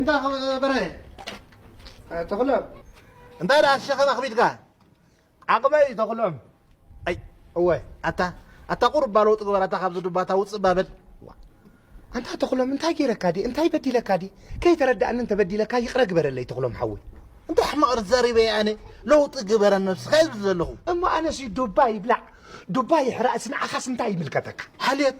እንዳ በርሀ ተኽሎም እንታይ ደኣ ሸኸም ኣኽቢድካ ዓቕመይ እዩ ተኽሎም ኣይ እወ ኣታ ኣታ ቁሩብ ባሎ ጥግበር ኣታ ካብዚ ዱባታ ውፅእ ባበል ኣንታ ተኽሎም እንታይ ገይረካ ዲ እንታይ በዲለካ ዲ ከይተረዳእኒ እንተበዲለካ ይቕረ ግበረለይ ተኽሎም ሓወይ እንታይ ሕማቕ ርዛሪበ እየ ኣነ ለውጢ ግበር ኣብ ነብስኻ ይብል ዘለኹ እሞ ኣነሲ ዱባ ይብላዕ ዱባ ይሕራእስ ንዓኻስ እንታይ ይምልከተካ ሓልዮት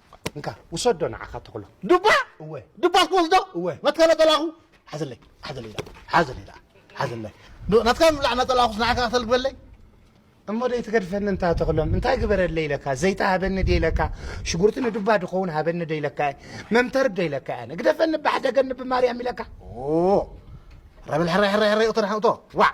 እንካ ውሰዶ ንዓኻ ተኽሎ ዱባ እወ ዱባ ክወስዶ እወ ናትካ ነጠላኹ ሓዘለይ ሓዘለይ ደኣ ሓዘለይ ደኣ ሓዘለይ ናትካ ምብላዕ ነጠላኹስ ንዓካ ክተል ግበለይ እሞ ደይ ትገድፈኒ እንታ ተኽሎም እንታይ ግበረለይ ኢለካ ዘይታ ሃበኒ ደይ ኢለካ ሽጉርቲ ንዱባ ድኸውን ሃበኒ ደይ ኢለካ መምተርብ ደይ ኢለካ ኣነ ግደፈኒ ባሕደገኒ ብማርያም ኢለካ ረብል ሕራይ ሕራይ ሕራይ እቶ ንሕቶ ዋዕ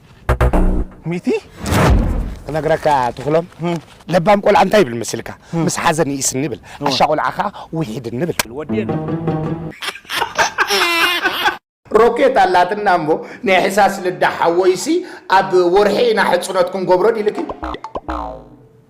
ሚቲ ክነግረካ ትኽሎም ለባም ቆልዓ እንታይ ይብል መስልካ ምስ ሓዘን ይእስኒ ይብል ዓሻ ቆልዓ ከዓ ውሒድኒ ይብል ሮኬት ኣላትና እሞ ናይ ሕሳስ ልዳ ሓወይሲ ኣብ ወርሒ ኢና ሕፅኖት ክንገብሮ ዲልኪ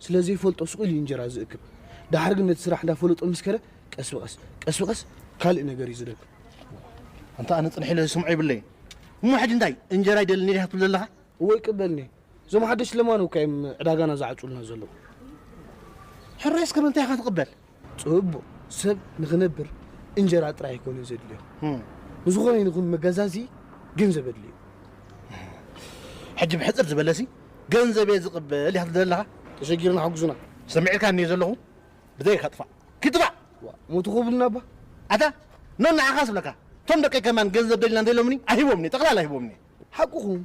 ስለ ዘይፈልጦ ሱቕ ኢሉ እዩ እንጀራ ዝእክብ። ደሓር ግን ነቲ ስራሕ እንዳ ፈለጦ ምስ ከደ ቀስ ብቐስ ቀስ ብቐስ ካልእ ነገር እዩ ዝረክብ። ኣንታ ኣነ ጽንሕ ኢለ ዝሰምዖ የብለይን። እሞ ሕጂ እንታይ እንጀራ ይደልኒ ዲኻ ትብል ዘለኻ? እወ ይቅበልኒ። እዞም ሓደሽቲ ለማኖ እኳ እዮም ዕዳጋና ዝዓጽዉልና ዘለዉ። ሕራይ እስከ ምንታይ ኢኻ ትቕበል? ጽቡቕ ሰብ ንኽነብር እንጀራ ጥራይ ኣይኮነን ዘድልዮ። ንዝኾነ ይኹን መገዛዚ ገንዘብ ኣድልዩ። ሕጂ ብሕጽር ዝበለሲ ገንዘብ እየ ዝቕበል ኢኻ ትደሊ ዘለኻ? ተሸጊርና ሓጉዙና። ሰሚዒልካኒ እየ ዘለኹ ብዘይካ ጥፋእ ኪጥፋእ። ሞቱ ክብሉና እባ። ኣታ ኖኖ ዓኻስ እብለካ እቶም ደቀይ ከማን ገንዘብ ደሊና እንተኢሎምኒ ኣይህቦምን እየ ጠቕላላ ኣይህቦምን እየ። ሓቅኹም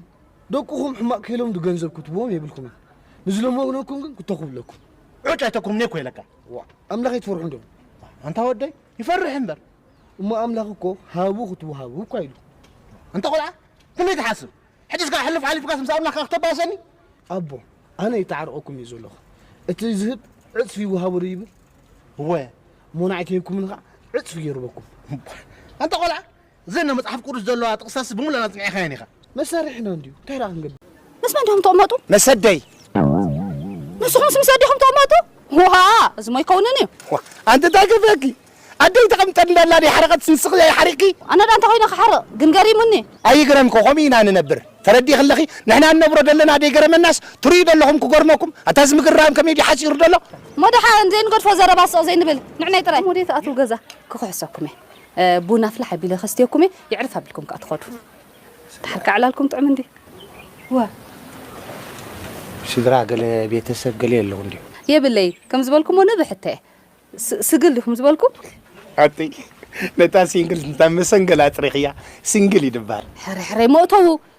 ደቅኹም ሕማቅ ከይሎም ድገንዘብ ክትብዎም የብልኩምን ንዝለመነኩም ግን ክተኹ ብለኩም ዑጭ ኣይተኩም ኔኮ ይለካ ዋእ ኣምላኽ ኣይትፈርሑ እንዶ ኣንታ ወደይ ይፈርሕ እምበር እሞ ኣምላኽ እኮ ሃቡ ክትወሃቡ እኳ ኢሉ ኣንታ ቆልዓ ክንደይ ትሓስብ ሕጂስ ከዓ ሕልፍ ሓሊፍካስ ምስ ኣምላኽ ከዓ ክተባእሰኒ ኣቦ ኣነ ይተዓርቐኩም እዩ ዘለኹ እቲ ዝህብ ዕፅፊ ይወሃቡ ዶ ይብል እወ ሞናዕ ከይንኩምን ከዓ ዕፅፊ ገይሩ በኩም ኣንታ ቆልዓ እዘን ኣብ መጽሓፍ ቅዱስ ዘለዋ ጥቕሳትሲ ብምሉኣን ኣጽኒዕካየን ኢኻ። መሳርሒና እንድዩ፣ እንታይ ደኣ ክንገብር? ምስ መን ዲኹም ትቕመጡ? ምስ ኣደይ። ንስኹምስ ምስ ኣዴኹም ትቕመጡ? ዋእ! እዚሞ ኣይከውንን እዩ። ዋእ! ኣንቲ እንታይ ከፊኣኪ? ኣደይ ተቐምጠኒ ኣላ ድያ ሓረቐትስ ንስኺ ድኣ ሓሪቕኪ? ኣነ ድኣ እንታይ ኮይነ ክሓርቕ? ግን ገሪሙኒ። ኣይግረምኪ፣ ከምኡ ኢና ንነብር። ተረዲእኪ ኣለኺ? ንሕና ንነብሮ ደለና ደይገረመናስ ትርእዩ ደለኹም ክገርመኩም? ኣታ እዚ ምግርራም ከመይ ድዩ ሓጺሩ ደሎ? እሞ ደሓን ዘይንገድፎ ዘረባ ስቕ ዘይንብል ንዕናይ ጥራይ። እሞ ደይትኣትዉ ገዛ ክኽሕሰኩምየ። ቡና ፍልሕ ኣቢለ ከስትየኩም እየ የዕርፍ ኣቢልኩም ከኣ ትኸዱ ድሓር ከኣ ዕላልኩም ጥዑም እንድዩ እወ ስድራ ገለ ቤተሰብ ገለ የለው እንድዩ የብለይ ከም ዝበልኩሞ ንብሕተ እየ ስግል ዲኹም ዝበልኩም ኣጥይ ነታ ሲንግል እንታ መሰንገል ኣጥሪኽያ ሲንግል ይድባር ሕርሕረይ መእተዉ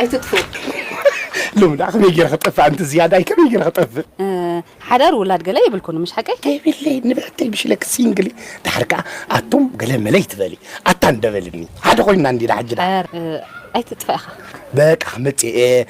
ኣይትጥፉ ሎሚ ደኣ ከመይ ገይረ ክጠፍእ ኣንቲ ዝያዳ ከመይ ገይረ ክጠፍእ ሓዳር ውላድ ገለ የብልኩን ምሽ ሓቀይ የብለይ ንብሕተይ ብሽለክ ሲንግሊ ድሓር ከዓ ኣቶም ገለ መለይ ትበሊ ኣታ እንደበልኒ ሓደ ኮይንና እንዲና ሕጂ ዳ ኣይትጥፋ ኢኻ በቃ መፅኤ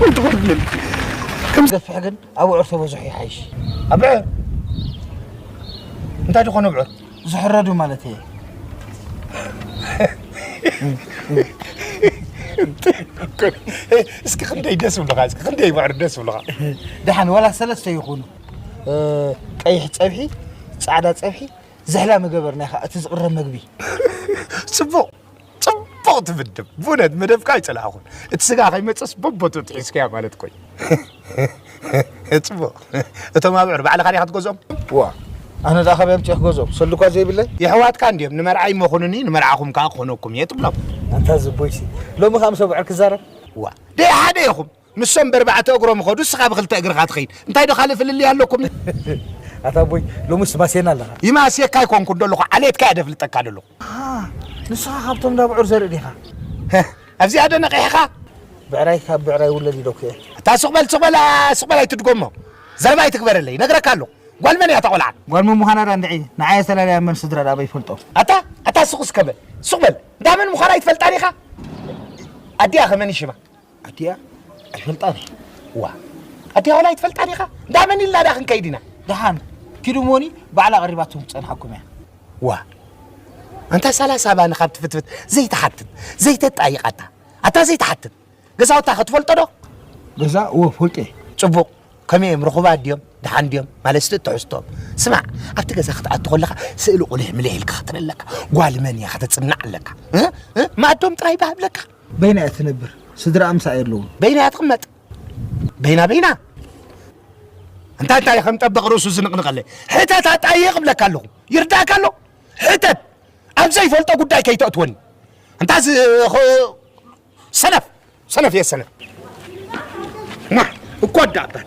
ወይ ትወርድን ከም ገፍሕ ግን ኣብዑር ተበዝሑ ይሓይሽ ኣብዑር እንታይ ድኾኑ ኣብዑር ዝሕረዱ ማለት እየ እስኪ ክንደይ ደስ ብልኻ እስኪ ክንደይ ባዕሪ ደስ ብልኻ ደሓን ዋላ ሰለስተ ይኹኑ ቀይሕ ፀብሒ ፃዕዳ ፀብሒ ዝሕላ መገበርና ኢኻ እቲ ዝቕረብ መግቢ ፅቡቕ ጽቡቕቲ ምድብ ብእውነት መደብካ ኣይጸላእኹን እቲ ስጋ ከይመጽስ በቦቱ ትሒዝካያ ማለት ኮይ ጽቡቕ እቶም ኣብዑር ባዕልኻ ዲኻ ትገዝኦም ዋ ኣነ ደኣ ካበይ ኣምጪ ክገዝኦም ሰሉኳ ዘይብለይ የሕዋትካ እንድዮም ንመርዓይ መኹኑኒ ንመርዓኹም ከዓ ክኾነኩም እየ ትብሎም ኣንታ ዝቦይሲ ሎሚ ከዓ ምስ ኣብዑር ክዛረብ ዋ ደይ ሓደ ኢኹም ንሶም በርባዕተ እግሮም ይኸዱ እስኻ ብኽልተ እግርኻ ትኸይድ እንታይ ዶ ካልእ ፍልልይ ኣለኩም። ኣታ ኣቦይ ሎምስ ትማስየና ኣለኻ። ይማስየካ ኣይኮንኩን ደለኹ ዓሌትካ እየ ደፍልጠካ ደለኹ። ኣሃ ንስኻ ካብቶም እንዳ ብዑር ዘርኢ ዲኻ። ህህ ኣብዚኣ ዶ ነቒሕኻ። ብዕራይ ካብ ብዕራይ ይውለድ ኢለኩ እየ። ኣታ ስቕ በል ስቕ በል ስቕ በል ኣይትድጎሞ ዘረባ ኣይትግበረለይ ይነግረካ ኣለኹ ጓል መን እያ እታ ቆልዓ። ጓል መን ምዃና ድኣ እንድዒ ንዓይ ኣስተላልያ መን ስድራ ድኣ ኣበይ ይፈልጦ። ኣታ ኣታ ስቕ እስከ በል ስቕ በል እንዳ መን ምዃና ኣይትፈልጣን ኢኻ። ኣዲኣ ከ መን እዩ ሽማ። ኣዲኣ ኣይፈልጣን እየ ዋ ኣዲኣ ዋላ ኣይትፈልጣን ኢኻ እንዳ መን ኢልና ዳ ክንከይድ ኢና ደሓን ኪዱ ሞኒ ባዕላ ቀሪባትኩም ትፀንሓኩም እያ ዋ ኣንታ ሰላሳ ባኒ ካብ ትፍትፍት ዘይትሓትት ዘይተጣይቃታ ኣታ ዘይትሓትት ገዛውታ ከትፈልጦ ዶ ገዛ እወ ፈልጦ እየ ፅቡቕ ከመይ እዮም ርኹባት ድዮም ድሓን ድዮም ማለት ስለ ትሕዝቶም ስማዕ ኣብቲ ገዛ ክትኣቱ ከለካ ስእሊ ቁልሕ ምልሕ ኢልካ ክትርኢ ኣለካ ጓል መን እያ ከተፅናዕ ኣለካ እ? እ? ማእዶም ጥራይ ባህ ብለካ በይና እያ ትነብር ስድራኣ ምሳኣ የለውን። በይና እያ ትቕመጥ በይና በይና እንታይ እንታይ ከም ጠበቕ ርእሱ ዝንቕንቐለ ሕተት ኣጣይቕ እብለካ ኣለኹ ይርዳእካ ኣሎ ሕተት ኣብ ዘይፈልጦ ጉዳይ ከይተእትወኒ እንታይ ሰነፍ ሰነፍ እየ ሰነፍ ማ እኮ ኣዳባል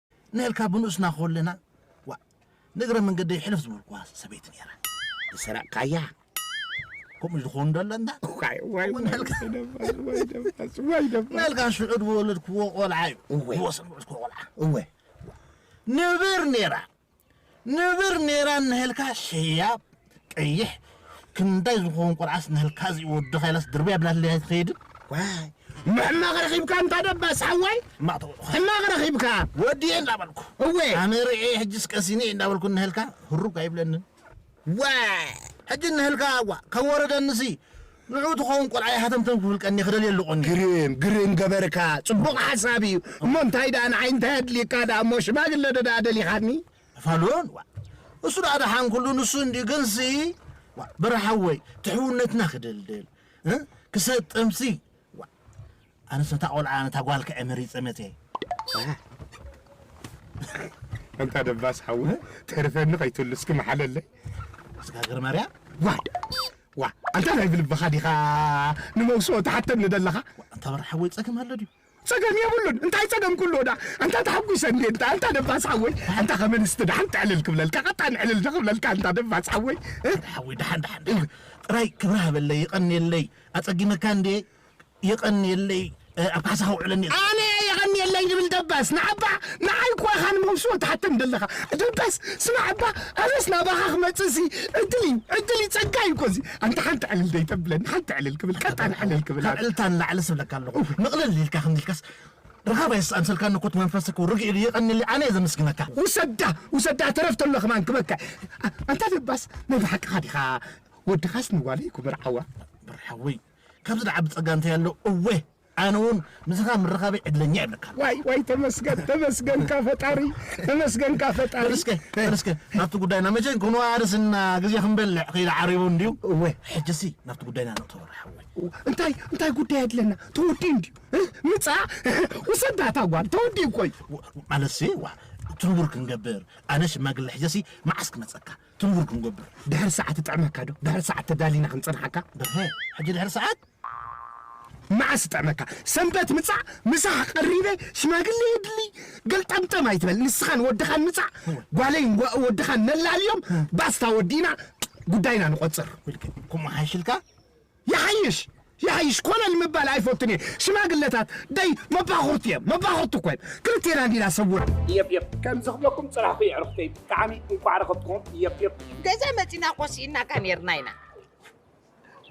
ንእልካ ብንኡስና ኮለና ዋእ ንእግረ መንገደይ ሕልፍ ዝበልኩዋ ሰበይቲ ነይራ። ዝሰረቕካያ ከምኡ ዝኾኑ ዶ ኣለና ንእልካ ሽዑ ዝወለድክዎ ቆልዓ እዩ ዝወሰን ውዕዝክዎ ቆልዓ እወ ንብር ነይራ ንብር ኔራ እንሀልካ ሸያብ ቀይሕ ክንዳይ ዝኮውን ቆልዓስ እንሀልካ እዚ ወድካ ኢላስ ድርብያ ብላትለይ ኣይትከይድን። ዋይ ሕማቅ ረኪብካ እንታ ደባስ ሓወይ ሕማቅ ተበልኩ ሕማቅ ረኪብካ። ወድየ እንዳ በልኩ እወ ኣነ ሪኤ ሕጅስ ቀሲነ እየ እንዳ በልኩ እንሀልካ ህሩግ ኣይብለንን። ዋይ ሕጂ እንሀልካ ዋእ ከይወረደኒሲ ንዑኡ ትኸውን ቆልዓ ይሃተምተም ክብል ቀንየ ክደልየሉ ቐንየ። ግርም ግርም ገበርካ ጽቡቅ ሓሳብ ኢዩ እሞ እንታይ ደኣ ንዓይ እንታይ ኣድልየካ ደኣ እሞ ሽማግለ ዶ ደኣ ደሊኻኒ። ፋሉን ዋእ እሱ ደኣ ደሓን ኩሉ ንሱ እንድዩ ግንሲ ዋእ በራ ሓወይ እቲ ሕውነትና ክድልድል ክሰጥምሲ ዋእ ኣነስ ነታ ቆልዓ ነታ ጓል ከዐ መሪጸ መጸየ። ኣንታ ደባስ ሓወይ ተርፈኒ ከይትልስኪ መሓለለይ። ስጋ ገረማርያ ዋይ ዋ ኣንታ ናይ ብልብኻ ዲኻ ንመውስኦ ትሓተኒ ደለኻ? ኣንታ በራ ሓወይ ጸገም ኣሎ ድዩ? ጸገም የብሉን እንታይ ጸገም ኩሉ ወዳ ኣንታ ተሓጒሰ እንዴ እንታ ኣንታ ደባስ ሓወይ ኣንታ ከመንስቲ ደሓን ጥዕልል ክብለልካ ቀጣን ዕልል ዶ ክብለልካ ኣንታ ደባስ ሓወይ ሓወይ ደሓን ደሓን ጥራይ ክብሪ ሃበለይ ይቐንየለይ ኣጸጊመካ እንዴ የቐንየለይ ኣብ ካሕሳ ከውዕለኒ እየ። ኣነ እየ የቐንየለይ ዝብል ደበስ ንዓባ ንዓይ እኮ ኢኻ ንመውስቦ ትሓተኒ ዘለኻ ደበስ ስማዕ እባ ኣነስ ናባኻ ክመጽእ ሲ ዕድል እዩ ዕድል እዩ ጸጋ እዩ እኮ እዚ ኣንታ ሓንቲ ዕልል ደይተብለኒ ሓንቲ ዕልል ክብል ቀጣን ዕልል ክብል ካብ ዕልልታ ንላዕልስ እብለካ ኣለኹ ምቕልል ኢልካ ከምዚ ኢልካስ ረኻባይ ኣምሰልካኒ እኮ እቲ መንፈስ እኮ ርግእ ኢሉ የቐንየለይ ኣነ እየ ዘመስግነካ። ውሰዳ ውሰዳ ተረፍ ተሎ ከማን ክበካ ኣንታ ደባስ ናይ ብሓቅኻ ዲኻ ወድኻስ ንጓለይ እኮ መርዓዋ። ብሩሕ ሓወይ ካብዚ ዝዓቢ ጸጋ እንታይ ኣሎ እዌ ኣነ ውን ምሳካ ምርካበይ ዕድለኛ ይብለካ። ዋይ ዋይ ተመስገን ተመስገንካ ፈጣሪ ተመስገንካ ፈጣሪ። በልስከ በልስከ ናብቲ ጉዳይና መቸ ክንዋ ርስና ግዜ ክንበልዕ ከይዲ ዓሪቡ እንድዩ። እወ ሕጂሲ ናብቲ ጉዳይና ንእቶ ሓወይ። እንታይ እንታይ ጉዳይ ኣድለና ተወዲኡ እንድዩ ምጻ ውሰዳ እታ ጓል ተወዲኡ ኮይ። ማለትሲ ዋ ትንቡር ክንገብር ኣነ ሽማግለ ሕጀሲ መዓስ ክመጸካ ትርውር ክንገብር ድሕሪ ሰዓት ይጥዕመካ ዶ ድሕሪ ሰዓት ተዳሊና ክንጸንሓካ በርሀ ሕጂ ድሕሪ ሰዓት መዓስ ይጥዕመካ ሰንበት ምጻእ ምሳሕ ቀሪበ ሽማግሌ የድሊ ገልጠምጠም ኣይትበል ንስኻን ወድኻን ምጻእ ጓለይን ጓ- ወድኻን ነላልዮም ባስታ ወዲእና ጉዳይና ንቆጽር ውልቀ ከምኡ ሓይሽልካ ይሓይሽ ይሓይሽ ኮለል ምባል ኣይፈቱን እየ ሽማግለታት ደይ መባኹርት እዬም መባኹርት እኮ እዬም ክልቴና እንዲና ሰውር። የፕየፕ ከምዚ ክብለኩም ጽናሕኩ የዕርኽተይ ብጣዕሚ እንኳዕ ረኸብትኩም የፕየፕ። ገዛ መጺና እኮ ሲኢናካ ኔርና ኢና።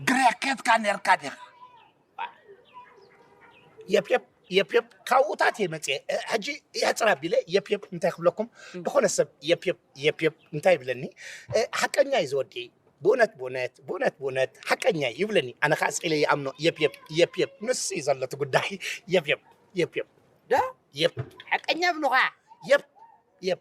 ግሬ ኬድካ ኔርካ ዲኻ? የፕየፕ የፕ የፕ ካብኡታት እየ መፅየ እ፣ ሕጂ የሕፅር ኣቢለ የፕ የፕ እንታይ ክብለኩም ዝኾነ ሰብ የፕ የፕ የፕ የፕ እንታይ ይብለኒ እ፣ ሓቀኛ እዩ ዝወዲ ብእውነት ብእውነት ብእውነት ብእውነት ሓቀኛ እዩ ይብለኒ ኣነ ከዓ ስቂለ ይኣምኖ የፕ የፕ የፕ የፕ ንሱ እዩ ዘሎ እቲ ጉዳይ የፕ የፕ የፕ የፕ ዳ የፕ ሓቀኛ ብልኻ የፕ የፕ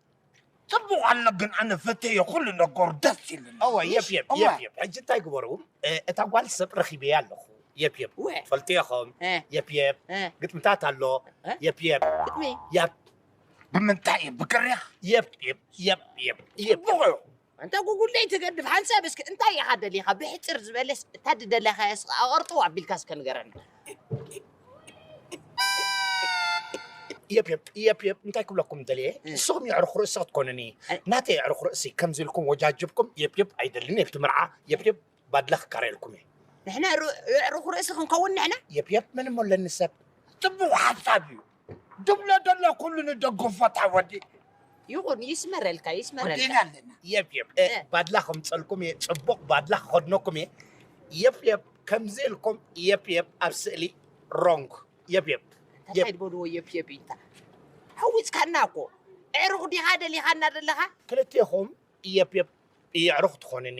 ጽቡቕ ኣሎ ግን ኣነ ፈቴዮ ኩሉ ነገሩ ደስ ኢሉኒ። እወ የፕ የፕ እወ። የፕ የፕ ሕጂ እንታይ ግበሩ እ፣ እታ ጓል ሰብ ረኺበያ ኣለኹ የፕ የፕ እወ። ትፈልጥዮ ኸም እ፣ የፕ የፕ እ፣ ግጥምታት ኣሎ እ? የፕ የፕ ግጥሚ ያፕ ብምንታይ እዩ ብግሪኽ የፕ የፕ የፕ የፕ የፕ ጽቡቕ እዩ ኣንታ ጉጉል ደይ ትገድፍ ሓንሳብ እስከ እንታይ ኢኻ ደሊኻ ብሕጽር ዝበለስ እታ ድደላካያስ ከኣ ኣቅርጥው ኣቢልካ እስከ ንገረና። የፕ የፕ የፕ የፕ እንታይ ክብለኩም ደልየ ንስኹም የዕሩኽ ርእሲ ክትኮኑኒ ናተይ የዕሩኽ ርእሲ ከምዚ ኢልኩም ወጃጅብኩም የፕ የፕ ኣይደልን የብቲ ምርዓ የፕ የፕ ባድላ ክቃረየልኩም እየ። ንሕና የዕሩኽ ርእሲ ክንከውን ንሕና። የፕ የፕ መን እሞ ኣለኒ ሰብ። ጽቡቅ ሓሳብ እዩ ድብሎ ደሎ ኩሉ ንደግፎ እታ ወዲ። ይኹን ይስመረልካ ይስመረልካ። ወዲና ኣለና። የፕ የፕ እ፣ ባድላ ከምጸልኩም እየ ጽቡቅ ባድላ ክኸድነኩም እየ። የፕ የፕ ከምዚ ኢልኩም የፕ የፕ ኣብ ስእሊ ሮንግ የፕ የፕ እንታይ የፕ ድበልዎ የፕ የፕ ኢልካ ሓዊጽካና እኮ ኣዕሩኽ ዲኻ ደሊኻና ዘለኻ። ክልቴኹም የፕ የፕ የዕሩኽ ትኾኑኒ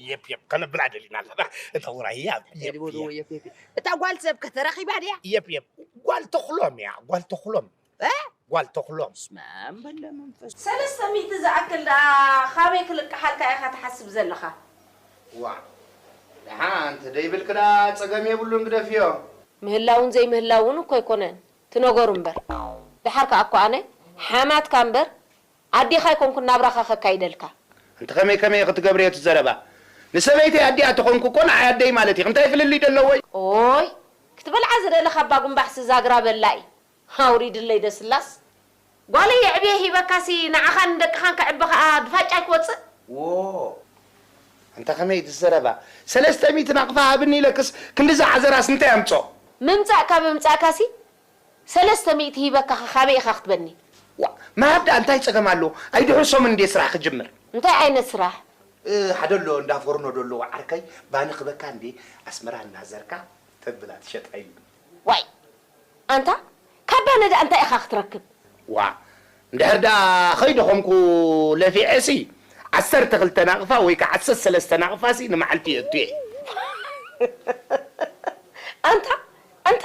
የፕ የፕ ከነብላ ደሊና ኣለና እታ ውራይ እያ የድቦ የፕ ዝዎ የፕ የፕ እታ ጓል ሰብከ ተረኺባ ድያ የፕ የፕ ጓል ተኽሎም እያ ጓል ተኽሎም እ? ጓል ተኽሎም ስመ ኣብ በለ መንፈስ ሰለስተ ሚእቲ ዝኣክል ደኣ ኻበይ ክልቅሓልካ ኢኻ ትሓስብ ዘለኻ? ዋእ ደሓን እንተደይብልኪ ደኣ ጸገም የብሉን ግደፍዮ። ምህላውን ዘይምህላውን እኮ ኣይኮነን እቲ ነገሩ እምበር ድሓር ከኣ እኮ ኣነ ሓማትካ እምበር ኣዴኻ ኣይኮንኩን ናብራኻ ከካይደልካ። ኣንቲ ከመይ ከመይ ኢኺ ትገብርዮ እቲ ዘረባ ንሰበይተይ ኣዲኣ ተኾንኩ እኮ ንዓይ ኣደይ ማለት ኢኺ እንታይ ፍልልይ ደለዎይ። ኦይ ክትበልዓ ዝደለኻ ባጉምባሕሲ ዛግራ በላኢ ኣውሪድለይ ደስላስ። ጓለይ የዕብየ ሂበካ ሲ ንዓኻን ንደቅኻን ከዕቢ ከኣ ብፋጫ ኣይክወጽእ። ዎዎ ኣንታ ከመይ እቲ ዘረባ ሰለስተ ሚእቲ ናቅፋ ሃብኒ ኢለክስ ክንድዚ ዓዘራስ እንታይ ኣምጾኦ። ምምጻእ ካብ ምምጻእካ ሲ ሰለስተ ሚእቲ ሂበካ ከ ካበይ ኢካ ክትበኒ። ዋእ ምሃብ ድኣ እንታይ ጸገም ኣለዎ ኣይ ድሑር ሰሙን እንድየ ስራሕ ክጅምር። እንታይ ዓይነት ስራሕ? ሓደ ኣሎ እንዳ ፎርኖ ዶ ኣለዎ ዓርከይ ባኒ ክበካ እንድየ ኣስመራ እናዘርካ ተብላ ትሸጣ ኢሉኒ። ዋይ ኣንታ ካብ ባኒ ድኣ እንታይ ኢካ ክትረክብ። ዋእ እንድሕር ድኣ ከይደኸምኩ ለፊዐ ሲ ዓሰርተ ክልተ ናቅፋ ወይ ከኣ ዓሰርተ ሰለስተ ናቅፋ ሲ ንመዓልቲ የእቱ እየ። ኣንታ ኣንታ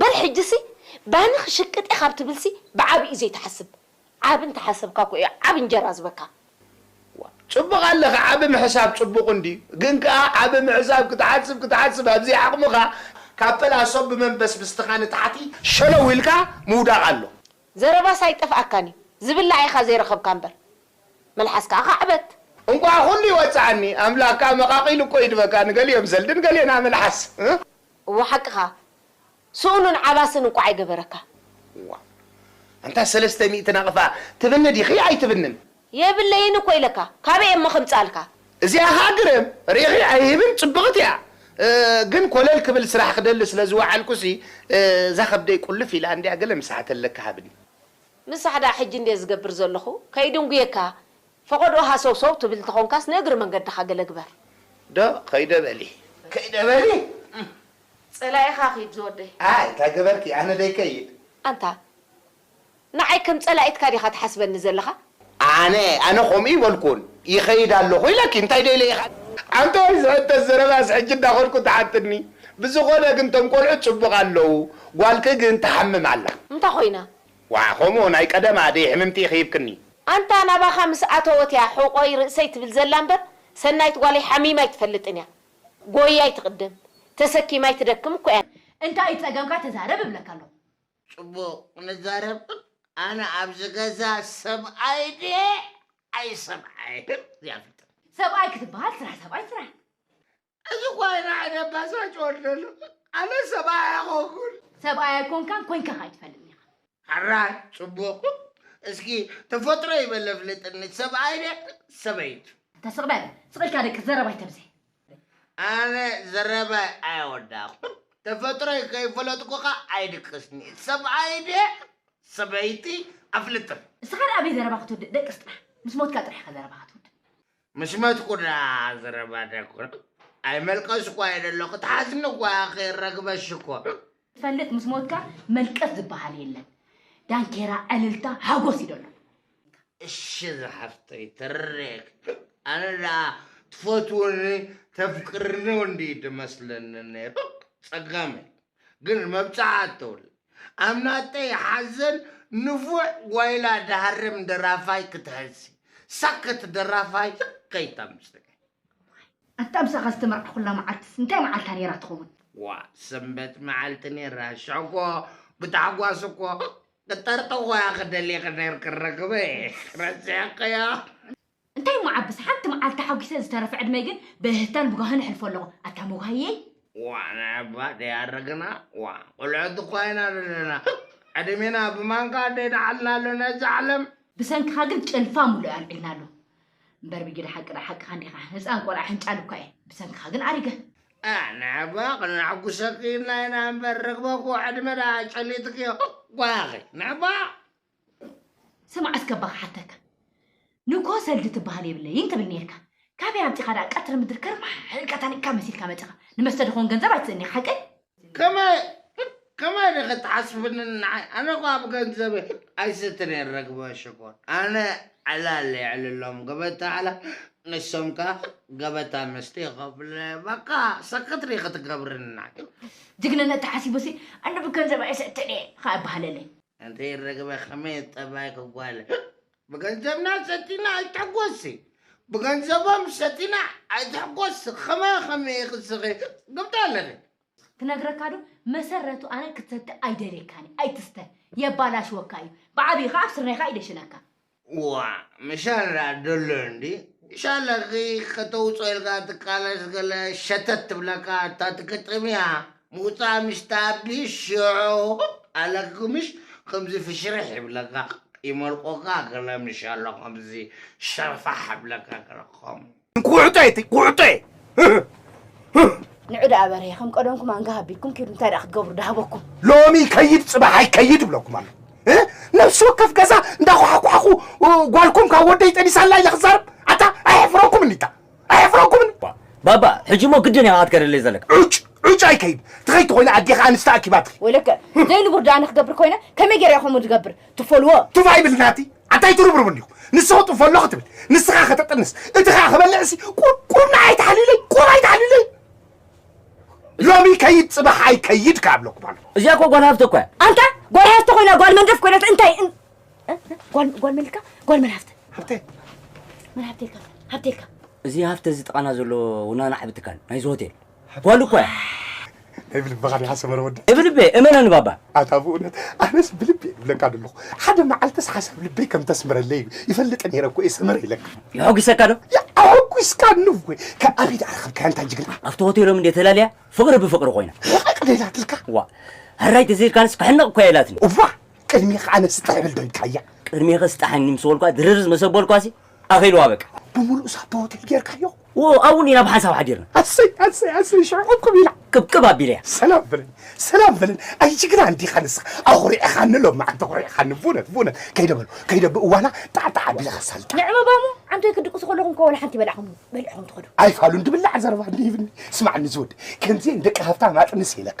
በል ሕጂሲ ባኒ ክሽቅጥ'የ ካብ ትብልሲ ብዓቢኡ ዘይትሓስብ ዓቢ እንተ ሓሰብካ'ኮ እዩ ዓቢ እንጀራ ዝህበካ። ዋእ ጽቡቅ ኣለኺ ዓቢ ምሕሳብ ጽቡቅ እንድዩ ግን ከኣ ዓቢ ምሕሳብ ክትሓስብ ክትሓስብ ኣብ ዘይዓቅምኻ ካብ ፈላሶ ብመንበስብስትኻ ንታሕቲ ሸለው ኢልካ ምውዳቅ ኣሎ። ዘረባስ ኣይጠፍኣካን እዩ ዝብላዕ ኢኻ ዘይረኸብካ እምበር መልሓስ ከኣ ካዕበት። እንቋዕ ኩሉ ይወጽኣኒ ኣምላክ ከኣ መቃቂሉ እኮ ይድበካ ንገሊኦም ዘልድን ገሌና መልሓስ። እወ ሓቅኻ ስኡንን ዓባስን እንኳዕ ኣይገበረካ። ዋእ ኣንታ ሰለስተ ሚእቲ ናቕፋ ትብኒ ዲኺ ኣይትብንን? የብለይን እኮ ኢለካ ካበይ እየ'ሞ ከምጽኣልካ። እዚኣ ከኣ ግርም ሪኢኺ ኣይህብን ጽብቕቲ እያ ግን ኮለል ክብል ስራሕ ክደሊ ስለ ዝወዓልኩሲ እዛ ከብደይ ቁልፍ ኢላ እንድያ ገለ ምሳሕ ተለካ ሃብኒ። ምሳሕ ደኣ ሕጂ እንድየ ዝገብር ዘለኹ ከይድንጉየካ ፈቐድኦ ሃሰውሰው ትብል እንተኾንካስ ንእግሪ መንገድኻ ገለ ግበር። ዶ ከይደ በሊ ከይደ በሊ እም ጸላኢኻ ኪድ ዝወደይ። ኣይ እንታይ ገበርኪ ኣነ ደይከይድ። ኣንታ ንዓይ ከም ጸላኢትካ ዲኻ ትሓስበኒ ዘለኻ? ኣነ ኣነ ከምኡ እይበልኩን ይኸይድ ኣለኹ ኢለኪ እንታይ ዶ ኢለ ኢኻ? ኣንታይ ዝሕተት ዘረባስ ሕጂ እንዳኸድኩ ትሓትኒ ብዝኾነ ግን እቶም ቆልዑት ጽቡቕ ኣለዉ ጓልኪ ግን ትሓምም ኣላ። እንታይ ኮይና? ዋዓ ከምኡ ናይ ቀደም ኣደይ ሕምምቲ ኢኪ ሂብክኒ። ኣንታ ናባኻ ምስ ኣተወት እያ ሕቆይ ርእሰይ ትብል ዘላ እምበር ሰናይት ጓለይ ሓሚማ ኣይትፈልጥን እያ ጎይይ ኣይትቅደም ተሰኪማ ኣይትደክም እኮ እያ። እንታይ እዩ ጸገምካ ተዛረብ እብለካ ኣለኹ። ጽቡቅ ንዛረብ ኣነ ኣብዚ ገዛ ሰብኣይ ድየ ኣይሰብኣይን ዘይኣፍልጥን። ሰብኣይ ክትብሃል ስራሕ ሰብኣይ ስራሕ። እዚ ኳይራ ዕደባሳጭ ወርደሉ ኣነ ሰብኣይ ኣይኮንኩን። ሰብኣይ ኣይኮንካን ኮይንካ ከ ኣይትፈልጥን ኢኻ። ሕራይ ጽቡቕ እስኪ ተፈጥሮይ በል ኣፍልጥኒ ሰብኣይ ድየ ሰበይቱ። ኣታ ስቕ በል ስቕ ኢልካ ደቅስ ዘረባ ኣይተብዝሕ። ኣነ ዘረባይ ኣይወዳእኩን ተፈጥሮይ ከይፈለጥኩኻ ኣይድቅስን'የ ሰብኣይ ድየ ሰበይቲ ኣፍልጥኒ። እስኻ ደኣ ኣበይ ዘረባ ክትውድእ ደቅስ ጥራሕ ምስ ሞትካ ጥራሕ'ኻ ዘረባ ክትውድእ። ምስ መትኩ ደኣ ኣዝረባ ደኩ ኣይመልቀስኩ ኣየ ደሎ ክትሓዝኒ እኳ ኢኪ ረግበ ሽኮር። ትፈልጥ ምስ ሞትካ መልቀስ ዝባሃል የለን ዳንኬራ ዕልልታ ሓጎስ እዩ ደሎ። እሺ ዝሓፍተይ ተረዲኤኪ ኣነ ደኣ ትፈትውኒ ተፍቅርኒ እንድዩ ድመስለኒ ነይሩ ጸጋመይ። ግን መብጽዓ እተውል ኣብ ናጠይ ሓዘን ንፉዕ ጓይላ ድሃርም ደራፋይ ክትሐሲ ሳክት ደራፋይ ልክ ከይተምጽእ። ኣንታ ምሳኻ ዝተመርዓኹላ መዓልትስ እንታይ መዓልታ ኔራ ትኸውን? ዋእ ሰንበት መዓልቲ ኔራ ሽሕኮ ብታሕጓስ እኮ ክጠርጠኾያ ክደሊኺ ኔርኪ ረክበ ረሲዕክዮ። እንታይ እሞ ዓብስ ሓንቲ መዓልቲ ሓጒሰ ዝተረፈ ዕድመይ ግን ብእህህታን ብጓህን እሕልፎ ኣለኹ ኣታ መጓህየይ። ዋእ ንዕባ ደይኣረግና ዋእ ቁልዕት እኳ ኢና ዘለና ህክ ዕድሜና ብማንካ ደይደሓልና ኣሎ ነዚ ዓለም። ብሰንክኻ ግን ጭልፋ ሙሉእ ኣልዒልና ኣሎ እምበር ብጊዳ ሓቂ ድኣ ሓቅኻ እንዲኻ ህጻን ቆልዓ ሕንጫል እኳ እየ ብሰንክኻ ግን ኣሪገ። ኣእ ንዕባ ክነሕጉሰኪ ኢልና ኢና እምበር ርግበ እኮ ዕድመ ድኣ ጨሊጥክዮ ህክ ጓያኺ ንዕባ። ስማዕ እስከ እባ ክሓተካ ንግሆ ሰልዲ ትበሃል የብለይን ትብል ኔርካ ካበይ ኣምጺኻ ደኣ ቀትሪ ምድሪ ከርማሕ ኢልካ ታኒቕካ መሲልካ መጺኻ ንመስተ ድኾን ገንዘብ ኣይትስእን ኢኻ ሓቀይ ከመይ ከመይ ዲኺ ትሓስብኒ ንዓይ ኣነ እኮ ኣብ ገንዘብ ኣይሰትን እየ ርግበ ሽኮር ኣነ ዕላል የዕልሎም ገበታ ዕላል ንሶም ከኣ ገበታ መስተ ይኸፍለ በቃ ሰክት ዲኺ ትገብርኒ ንዓይ ጅግንነት ተሓሲቡሲ ኣነ ብገንዘብ ኣይሰትን እየ ኸኣ ይበሃለለይ ኣንተይ ርግበ ከመይ ጠባይኪ ጓል ብገንዘብና ሰቲና ኣይትሕጎሲ ብገንዘቦም ሰቲና ኣይትሕጎሲ ከመይ ከመይ ኢኺ ስኺ ግብዳ ኣለኺ ክነግረካ ዶ መሰረቱ ኣነ ክትሰቲ ኣይደልየካን እየ ኣይትስተ የባላሽወካ እዩ ብዓብይኻ ኣብ ስርናይካ ይደሽነካ ዋእ ምሻላ ደሎ እንዲ ሻላ ኺኽ ከተውጾ ኢልካ ትቃለስ ገለ ሸተት ትብለካ እታ ትግጥም እያ ምውጻኣ ምስ ትኣቢ ሽዑ ኣለኪ ምሽ ከምዚ ፍሽርሕ ይብለካ ይመልቆካ ገለ ምሻሎ ከምዚ ሸርፋሕ ይብለካ ገለ ከምኡ ቁዕጦ እቲ ቁዕጦ ንዑ ደኣ በርሄ ከም ቀደምኩም ኣንጋ ሃቢልኩም ኪዱ እንታይ ደኣ ክትገብሩ ዳሃበኩም ሎሚ ይከይድ ፅባሕ ኣይከይድ ይብለኩም ኣሎ ነፍሲ ወከፍ ገዛ እንዳኳሓኳሕኹ ጓልኩም ካብ ወደይ ጠኒሳላ ኢለ ክዛረብ ኣታ ኣየሕፍረኩም እኒታ ኣየሕፍረኩም ባባ ሕጂ እሞ ግድን ኢኻ ክትከደለይ ዘለካ ዑጭ ዑጭ ኣይከይድ ትኸይድ ተኮይነ ኣዴኻ ኣንስቲ ኣኪባትኺ ወይለከ ዘይንቡር ደኣ ንክገብር ኮይነ ከመይ ገይረ እየ ከምኡ ዝገብር ትፈልዎ ቱፍ ኣይብል ናቲ ኣንታይ ትርብርቡ እንዲኹ ንስኹ ጥፈሎ ክትብል ንስኻ ከተጥንስ እቲ ኸዓ ክበልዕሲ ቁርቁር ንዓይ ተሓሊለይ ቁር ኣይተሓሊለይ ሎሚ ከይድ ፅባሕ ኣይከይድ ካብ ኣለኩ ባሉ እዚኣ እኮ ጓል ሃፍቲ እኮ እያ ኣንታ ጓል ሃፍቲ ኮይና ጓል መንደፍ ኮይነት እንታይ ጓል ጓል መን ኢልካ ጓል መን ሃፍቲ ሃብተ መን ሃብቲ ኢልካ ሃብቲ ኢልካ እዚ ሃፍቲ እዚ ጥቃና ዘሎ ውናና ዓቢ ትካል ናይዚ ሆቴል ጓል እኮ እያ። ናይ ብልብኻ ዲኻ ሰመረ ወዲ? ናይ ብልበይ እመነኒ ባባ። ኣታ ብእውነት ኣነስ ብልቢ እየ ዝብለካ ዘለኹ ሓደ መዓልትስ ሓሳብ ልበይ ከም ተስምረለይ ይፈልጥ ነይረ እኮ እየ ሰመረ ኢለካ። የሐጒሰካ ዶ? የሐጒስካኒ እወ። ካብ ኣበይ ደኣ ረኸብካያ ኣንታ ጅግና? ኣብቲ ሆቴሎም እንድየ ተላልያ ፍቕሪ ብፍቕሪ ኮይና። ሕቕቕደ ኢላትልካ? ዋእ ሕራይ ተዘይልካንስ ክሕነቕ እኮ እያ ኢላትኒ። እዋ ቅድሜኻ ኣነ ስጥሕ እብል ዶ ኢልካያ? ቅድሜኺ ስጣሕኒ ምስ በልኩዋ ድርርዝ መሰ በልኩዋሲ ኣኺልዋ በቃ። ብምሉእ ሳቶ ሆቴል ጌርካዮ? ዎው ኣብኡ ኢና ብሓንሳብ ሓዲርና። ኣሰይ ኣሰይ ኣሰይ ሽዑ ቅብቅብ ኢላ። ቅብቅብ ኣቢለያ። ሰላም በለኒ ሰላም በለኒ ኣይ ጅግና እንዲኻ ንስኻ ኣኹሪዕኻኒ ሎምዓንቲ ኣኹሪዕኻኒ ቡነት ቡነት ከይደ በሉ ከይደ ብእዋና ጣዕጣዕ ኣቢለ ከሳልጣ ንዕምባሞ ዓንዶይ ክድቅሱ ከለኹም እኮ ወላ ሓንቲ በላዕኹም በሊዕኹም ትኸዱ። ኣይፋሉን ድብላዕ ዘረባ እንዲህብኒ ስማዕኒ ዝወዲ ከምዚኤን ደቂ ሃብታም ኣጥንስ ኢለካ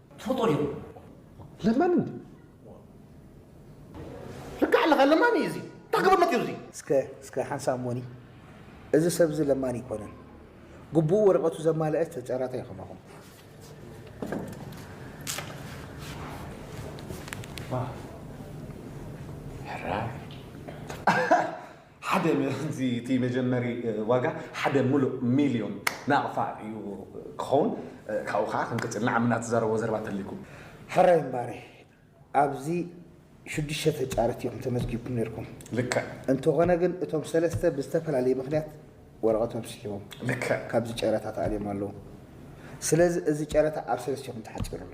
ትፈልጦ ዲኹም ለማኒ ልክዕ ኣለኻ ለማኒ እዩ እዚ እንታይ ክብርነት እዩ እዚ እስከ እስከ ሓንሳብ ሞኒ እዚ ሰብ እዚ ለማኒ ኣይኮነን ግቡኡ ወረቐቱ ዘማልአ ተጫራተ እዩ ከማኹም ሕራይ ሓደ እዚ እቲ መጀመሪ ዋጋ ሓደ ሙሉእ ሚልዮን ናቕፋ እዩ ክኸውን ካብኡ ከኣ ክንቅጽል ንዓምና ትዛረብዎ ዘረባ እንተልይኩ። ሕራይ እምባሬ ኣብዚ ሽዱሽተ ተጫረቲ ኢኹም ተመዝጊብኩም ኔርኩም። ልክዕ። እንተኾነ ግን እቶም ሰለስተ ብዝተፈላለየ ምኽንያት ወረቐቶም ስሒቦም። ልክዕ። ካብዚ ጨረታ ተኣልዮም ኣለዉ። ስለዚ እዚ ጨረታ ኣብ ሰለስቲኹም ተሓጺሩ ኣሎ።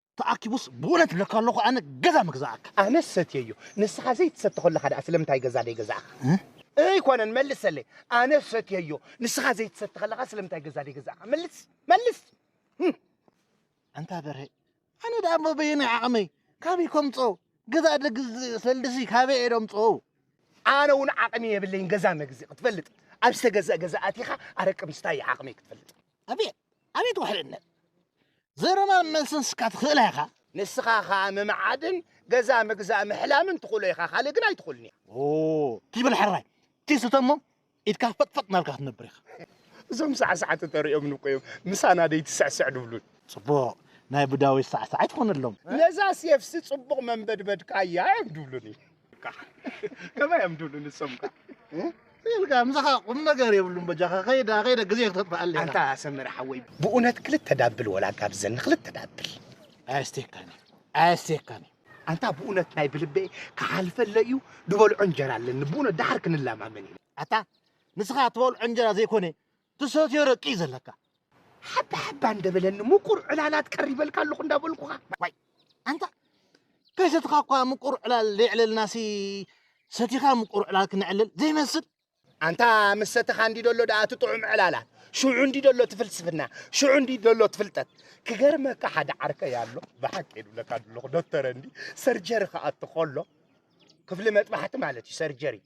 ተኣኪቡስ ብኡነት እብለካ ኣለኹ ኣነ ገዛ ምግዛኣካ። ኣነስ ሰትየዮ ንስኻ ዘይትሰቲ ከለኻ ደኣ ስለምንታይ ገዛ ደይገዛእኻ? ኣይኮነን መልሰለይ ኣነስ ሰትየዮ ንስኻ ዘይትሰቲ ከለኻ ስለምንታይ ገዛ ደይገዛእኻ? መልስ መልስ። ኣንታ በርሀ ኣነ ደኣ እሞ በየናይ ዓቕመይ ካበይ ከምጾ ገዛ ደግ ሰልድሲ ካበይ እየ ደምጾ? ኣነ እውን ዓቕሚ የብለይን ገዛ መግዚ ክትፈልጥ ኣብ ዝተገዝአ ገዛ ኣቲኻ ኣረቂ ምስታይ እዩ ዓቕመይ ክትፈልጥ። ኣቤት ኣቤት ውሕልነት ዘረባን መልስን ስካ ትኽእላ ኢኻ ንስኻ ኸዓ ምምዓድን ገዛ ምግዛእ ምሕላምን ትኽእሎ ኢኻ ካልእ ግን ኣይትኽእሉን እያ ትይበል ሕራይ ትይስተ እሞ ኢድካ ፈጥፈጥ ናብልካ ክትነብር ኢኻ እዞም ሳዕሳዕቲ ተሪኦም ንኮ እዮም ምሳና ደይትስዕስዕ ድብሉን ጽቡቕ ናይ ቡዳዊ ሳዕሳዕ ኣይትኾነሎም ነዛ ሴፍሲ ጽቡቕ መንበድበድካ እያ እዮም ድብሉኒ ከመይ እዮም ድብሉ ንሶም ከ ኢልካ ምሳኻ ቁም ነገር የብሉን በጃኻ ከይዳ ከይደ ግዜ ክተጥፍኣለይ ኣንታ ሰመረ ሓወይ ብእውነት ክልተ ዳብል ወላ ጋብዘኒ ክልተ ዳብል ኣያስቴካኒ ኣያስቴካኒ ኣንታ ብእውነት ናይ ብልበ ክሓልፈለ እዩ ዝበልዖ እንጀራ ኣለኒ ብእውነት ዳሓር ክንላማመን ኢና ኣታ ንስኻ ትበልዖ እንጀራ ዘይኮነ ትሰትዮ ረቂ እዩ ዘለካ ሓባ ሓባ እንደበለኒ ምቁር ዕላላት ቀሪበልካ ኣለኹ እንዳበልኩኻ ዋይ ኣንታ ከይሰትኻ እኳ ምቁር ዕላል ዘይዕለልናሲ ሰቲኻ ምቁር ዕላል ክነዕልል ዘይመስል ኣንታ ምስ ሰተኻ እንዲ ደሎ ደኣ እቲ ጥዑም ዕላላት ሽዑ እንዲ ደሎ እቲ ፍልስፍና ሽዑ እንዲ ደሎ እቲ ፍልጠት ክገርመካ ሓደ ዓርከይ ኣሎ ብሓቂ የድብለካ ኣለኹ ዶክተር እንዲ ሰርጀሪ ክኣቱ ከሎ ክፍሊ መጥባሕቲ ማለት እዩ ሰርጀሪ